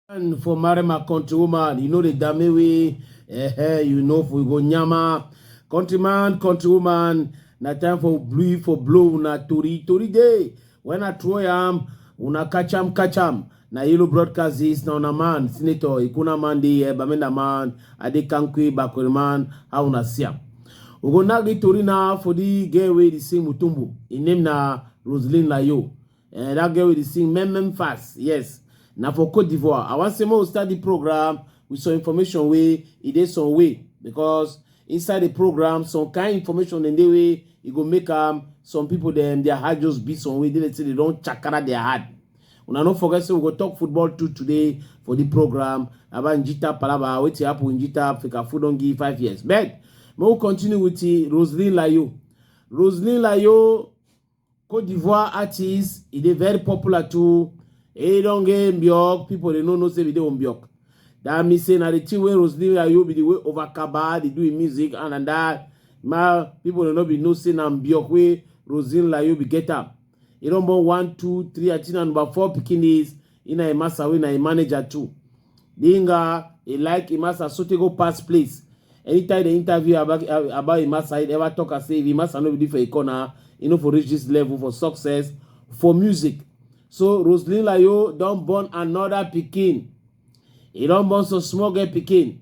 And for marry my country woman, you know the dame way, eh, eh, you know for go nyama. Countryman, countrywoman, na time for blue for blow na tori tori day. When I throw yam, una catch am, catch am. Na Ilu broadcast this, na una man, Senator Ikuna Mandi, eh, Bamenda man, Adi Kankwi, Bakuri man, how una see am. We go now get Tori now for the girl wey dey sing Mutumbu. Im name na Roseline Layo. Eh, that girl wey dey sing Mem Mem Fast, yes. Na for Cote d'Ivoire. I wan say make we start the program with some information wey e dey some way because Inside the program, some kind information in the way it go make um, some people them their heart just beat some way. They let's say they don't chakara their heart. Una no forget say we go talk football too today for the program about Njita Palaba. Wait to happen Njita Africa food don't give five years. But we will continue with the Roseline Layo. Roseline Layo Cote d'Ivoire artist, e dey very popular too. E don get Mbiok, people dey no know say we dey Mbiok. That means say na the thing wey Roseline Ayo be the way over Kaba dey do im music and and that ma people dey no be know say na Mbiok wey Roseline Layo be get am. E don born one, two, three, I think na number four pikin is Ina Emasa wey na im manager too. Dinga, he like Imasa sotey go pass place. Anytime they interview about about Imasa, he never talk as say if Imasa no be for a corner, he no for reach this level for success for music. So Roseline Layo don born another pikin. He don born some small girl pikin.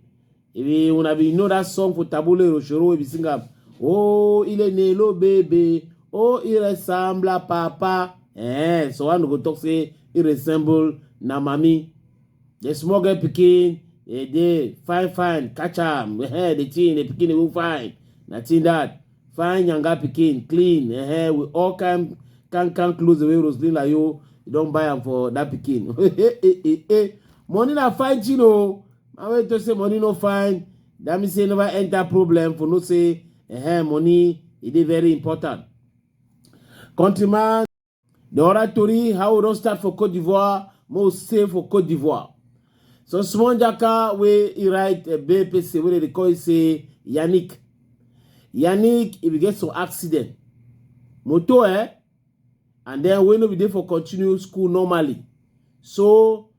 Ebi una bin know that song for Tabule Rochoro wey be sing am. Oh, ile nelo baby. Oh, he resembla papa. Eh, so one go talk say he resemble na mami. The small girl pikin, eh, dey fine fine, catch am. Eh, the thing, the pikin will fine. Nothing that. Fine younger pikin, clean. Eh, with all kind can can clothes the way Roslyn like you, you don't buy am for that pikin. eh, eh, eh, eh. Money na fine thing oh. na wey to say money no fine that mean say never enter problem for no say eh, money e dey very important countryman the other tori how we don start for cote d'ivoire mo stay for cote d'ivoire so small jaka wey e write a big person wey dey call say yannick yannick if you get some accident moto eh and then wey no be dey for continue school normally so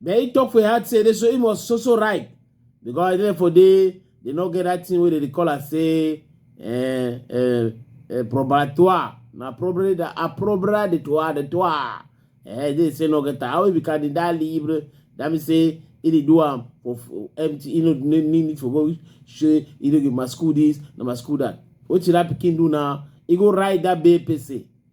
but he talk for im heart say dey so he must so so right because even for dey dey no get that thing wey dey dey call am say eh, eh, eh, probatoire na probably the approbra de toi de toi eh dey say no get am how he be candidat libre that mean say he dey do am for for empty he no no need need for go say he no give my school this na my school that wetin that pikin do now he go write that babe say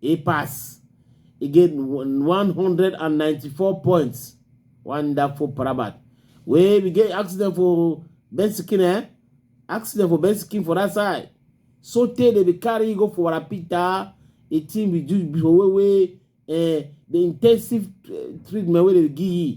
e pass e get 194 points wonderful parabat wey we get accident for bensikin eh accident for bensikin for that side so tey dey be carry go for warapita a team we do before wey wey eh the intensive eh, treatment wey dey give you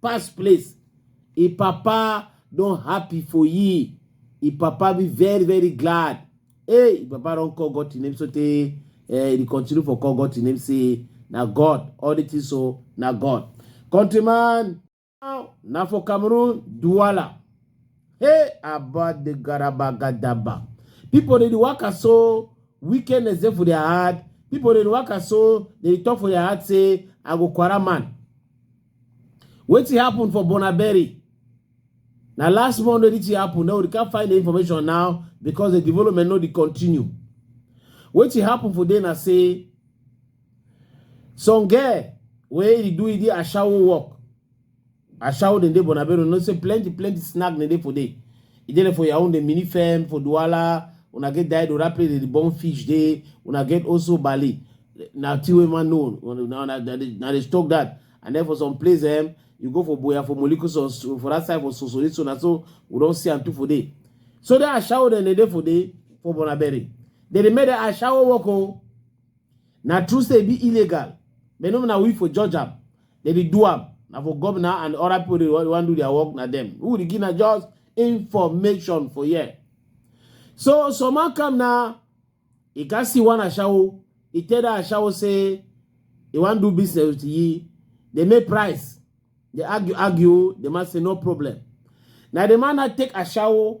pass place e papa don happy for ye e papa be very very glad hey e papa don call god to name so tey eh e continue for call god to name say na god all the things so na god countryman now na for cameroon duala hey about the garaba gadaba people dey waka so wickedness dey for their heart people dey waka so dey talk for their heart say i go quarter man Wetin happen for Bonaberry? Now last month wey this happen, now we can't find the information now because the development no dey continue. Wetin happen for there na say some girl wey dey do the ashawo work, ashawo dem dey Bonaberry, no say plenty plenty snack dem dey for there. E dey there for Yaoundé, Minifem, for Douala, una get Dido, that place dey dey burn fish dey, una get Osso Bale, na thing wey man know, una na na na dey na dey talk that, and then for some place um you go for Boya, for Molikuson, so for that side for Sosori so na so we don see am too for there. So that ashawo dem dey dey for there for Bonaberi, dem dey make that ashawo work o. Na true say e be illegal, but no be na we for judge am. They dey do am. Na for governor and other people dey wan wan do their work, na them. Who dey give na just information for here. So some man come now, he can see one ashawo. He tell that ashawo say he wan do business with ye. They make price. They argue, argue. The man say no problem. Now the man now take ashawo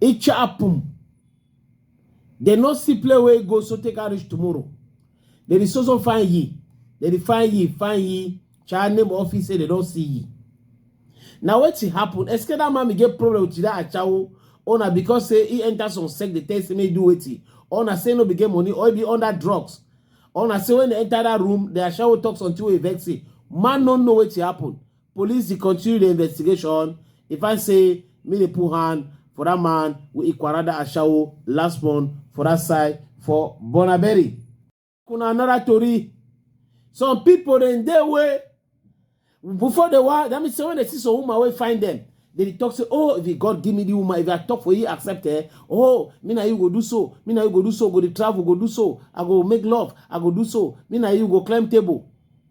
It shall happen. They no see play where go so take a reach tomorrow. They is also find ye. They dey find ye, find ye. Child name office say they don't see ye. Now what it happen? Eske that man get problem with that achawo. Ona because say he enter some sect, they tell say me do wetin. Ona say no be get money or he be under drugs. Ona say when they enter that room, the achawo talk something wey vex him. Man no know what it happen. Police dey continue the investigation. If I say me dey put hand for that man with Ikwarada Ashawo last month for that side for Bonaberi. Kuna another tori. Some people dem dey way before they were that means when they see some woman wey find them they talk say oh if God give me the woman if I talk for you accept her eh? oh me na you go do so me na you go do so go the travel go do so I go make love I go do so me na you go climb table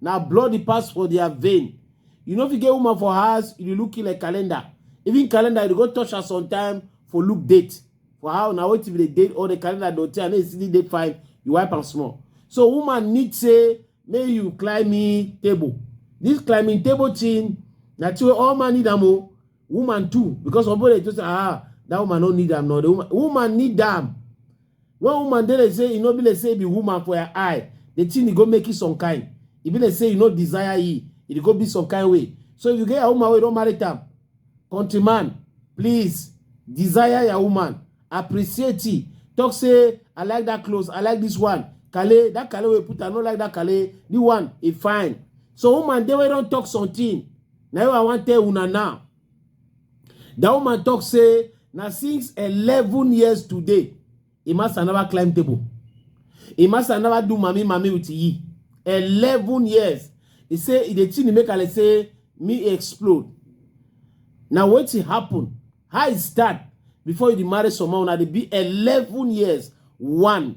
na blood dey pass for their vein you no fit get woman for house you dey look you like calendar even calendar you dey go touch her sometime for look date for how na wetin be the date or the calendar don tell and then you still dey fine you wipe am small so woman need say make you climb me table this climbing table thing na thing wey all man need am o woman too because some people dey just ah that woman no need am no the woman woman need am When woman dey like say e no be like say e be woman for her eye, the thing e go make e some kind. E be like say you no desire e, e dey go be some kind way. So if you get your woman wey you don marry am, country man, please desire your woman, appreciate e. Talk say I like that clothes, I like this one. Kale, that kale wey you put, I no like that kale. This one e fine. So woman dey wey don talk something. Na you I wan tell una now. That woman talk say na since 11 years today, Imasa never climb table. Imasa never do mami mami with ye. 11 years. He say e dey thing e make her like say me explode. Na wetin happen? How e start before you dey marry someone una dey be 11 years one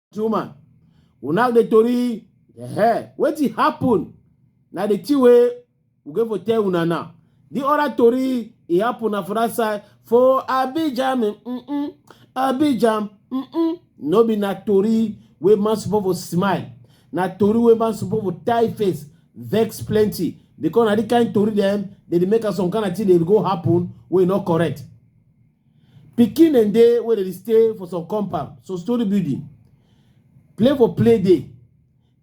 two man we now dey tori the hair wetin happen na the thing wey we go for tell una now the other tori e happen na for that side for abidjan mm -mm, abidjan mm -mm. no be na tori wey man suppose for smile na tori wey man suppose for tie face vex plenty because na the kind tori dem dey dey make am some kind of thing dey go happen wey no correct pikin dem dey wey dey stay for some compound so story building play for play day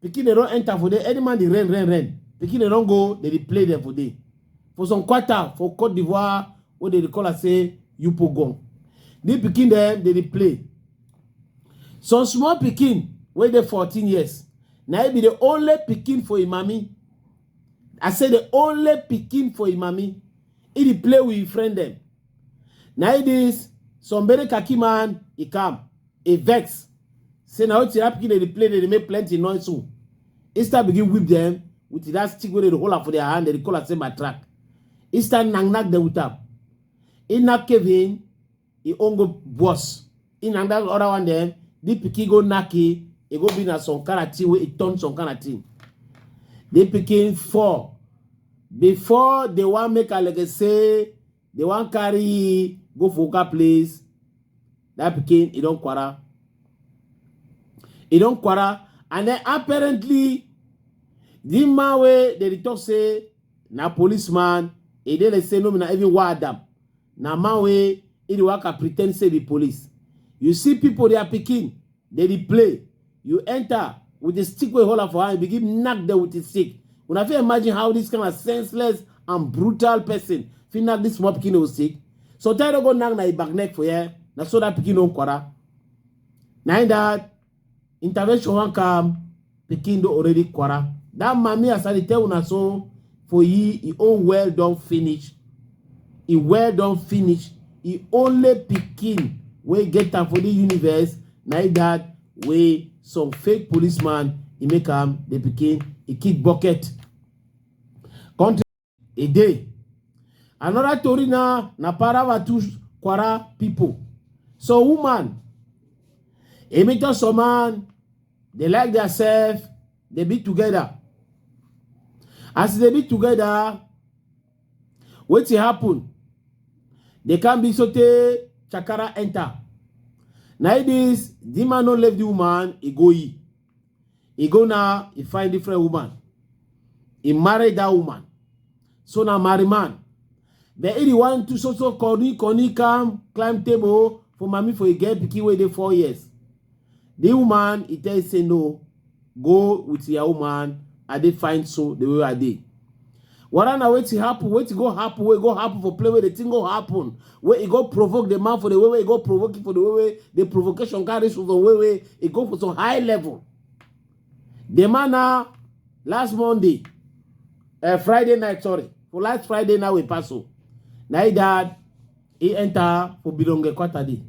pikin dem don enter for there any man dey rain rain rain pikin dem don go dem dey play dem for there for some quarter for cote d'ivoire wey dem dey call am say yupogon the pikin dem dey dey play some small pikin wey dey fourteen years na e be the only pikin for im mami i say the only pikin for im mami e dey play with im friend dem na it is some very khaki man e come e vex say na wetin that pikin dey play dey make plenty noise so instead begin whip them with that stick wey dey hold am for their hand dey call am say my track instead knack knack dem with am e knack kevin e own go worse in and that other one dem the pikin go knack e e go be na some kind of thing wey e turn some kind of thing the pikin fall before they wan make alege say they wan carry e go for oga place that pikin e don kwara e don kwara and then apparently the man wey dey talk say na policeman e dey like say no be na even why adam Na man wey he dey waka pretend say be police. You see people their pikin, they dey play. You enter with the stick wey hold am for hand, you begin knack them with the stick. Una fit imagine how this kind of senseless and brutal person fit knack this small pikin with stick. Sometimes you go knack na him back neck for here. Na so that pikin don kwara. Na him that intervention wan come pikin don already kwara that mami as i dey tell una so for ye e own well don finish e well don finish e only pikin wey get am for the universe na e that wey some fake policeman e make am the pikin e kick bucket country e dey another tori na na paravatu kwara pipo so woman emi to some man dey like their self dey be together as e dey be together wetin happen dey come be sotey chakara enter na e dis di man no leave di woman e go e He go now, he find different woman. He married that woman. So now marry man. But if you want to so so Connie, Connie come, climb table for mommy for a girl pikin wey dey four years. The woman, he tell say no, go with your woman, I dey find so the way I dey. Wara na wetin happen, wetin go happen, wey go happen for play where the thing go happen, where it go provoke the man for the way where it go provoke it for the way where the provocation carry so the way where it go for some high level. The man now last Monday, uh, Friday night, sorry, for last Friday now we pass so. Now he died e enta fo bilonge kwatadi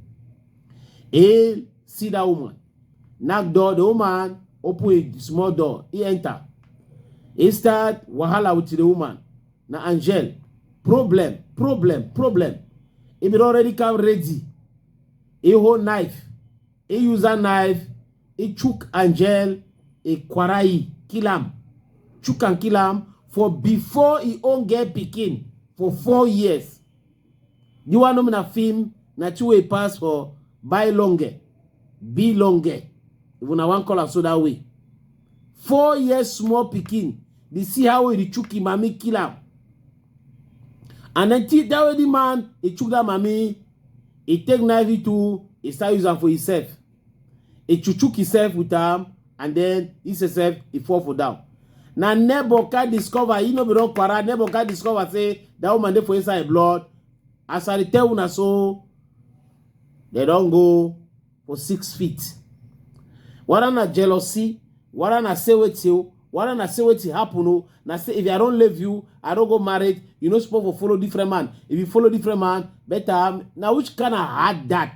e sida woman knock door the woman open a small door e enter e start wahala with the woman na angel problem problem problem e bin already come ready e hold knife e use that knife e chook angel e kwarai kill am chook am kill am for before e own get pikin for four years You want to na film na two way pass for buy longer, be longer. If una wan call am so that way. Four years small pikin, dey see how he chook him mami kill am. And then till that way the man, he chook that mami, he take knife it too, he start use am for himself. He chuchuk himself with am and then he himself he fall for down. Na neighbor can discover, he no be don quarrel, neighbor can discover say that woman dey for inside blood. As I tell una so, they don go for six feet. Whether na jealousy, whether na say wetin o, whether na say wetin happen o, na say if I don leave you, I don go married, you no suppose for follow different man. If you follow different man, better na which kind of hard that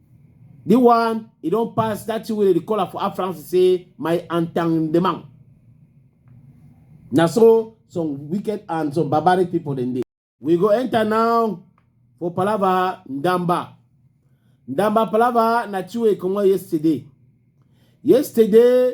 The one, he don't pass that thing wey dey call am for Afranc say my entendement. Na so some wicked and some barbaric people dem dey. We go enter now for Palava Ndamba. Ndamba Palava na Chiwe comot yesterday. Yesterday,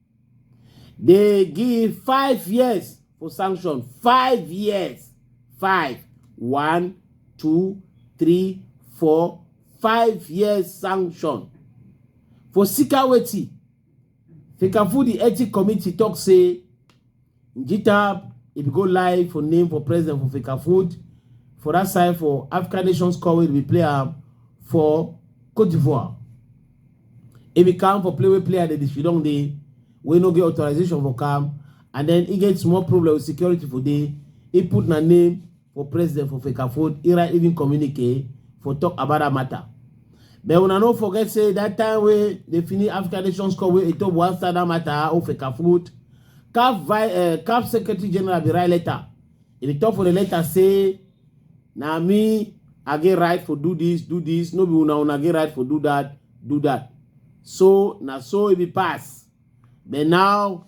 They give five years for sanction. Five years. Five. One, two, three, four, five years sanction. For Sikaweti, Fekafudi Ethic Committee talk say Njitab, if you go live for name for president for Fika Food, for that side for African Nations Cup, we play am for Cote d'Ivoire. If you come for play, we play at the Shidong Day, we no get authorization for come, and then he get small problem with security for day. He put na name for president for Fecafold, Ira even communicate for talk about that matter. But when I don't forget, say that time where they finish African Nations Cup, where it was that matter of Fecafold, CAF, vice, uh, CAF Secretary General be write letter. If you talk for the letter, say, now me, I get right for do this, do this. No be una una get right for do that, do that. So, now so it be pass. But now,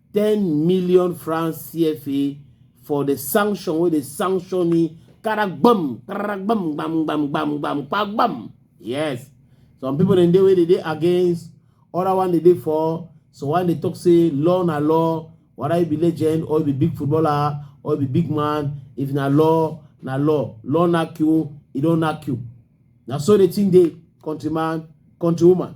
10 million francs CFA for the sanction wey dey sanction ni karagbam karagbam gbam gbam gbam gbam kpagbam yes some people dem dey wey dey dey against other one dey dey for so one dey talk say law na law whether you be legend or you be big footballer or you be big man if na law na law law knack you e don knack you na so the thing dey countryman countrywoman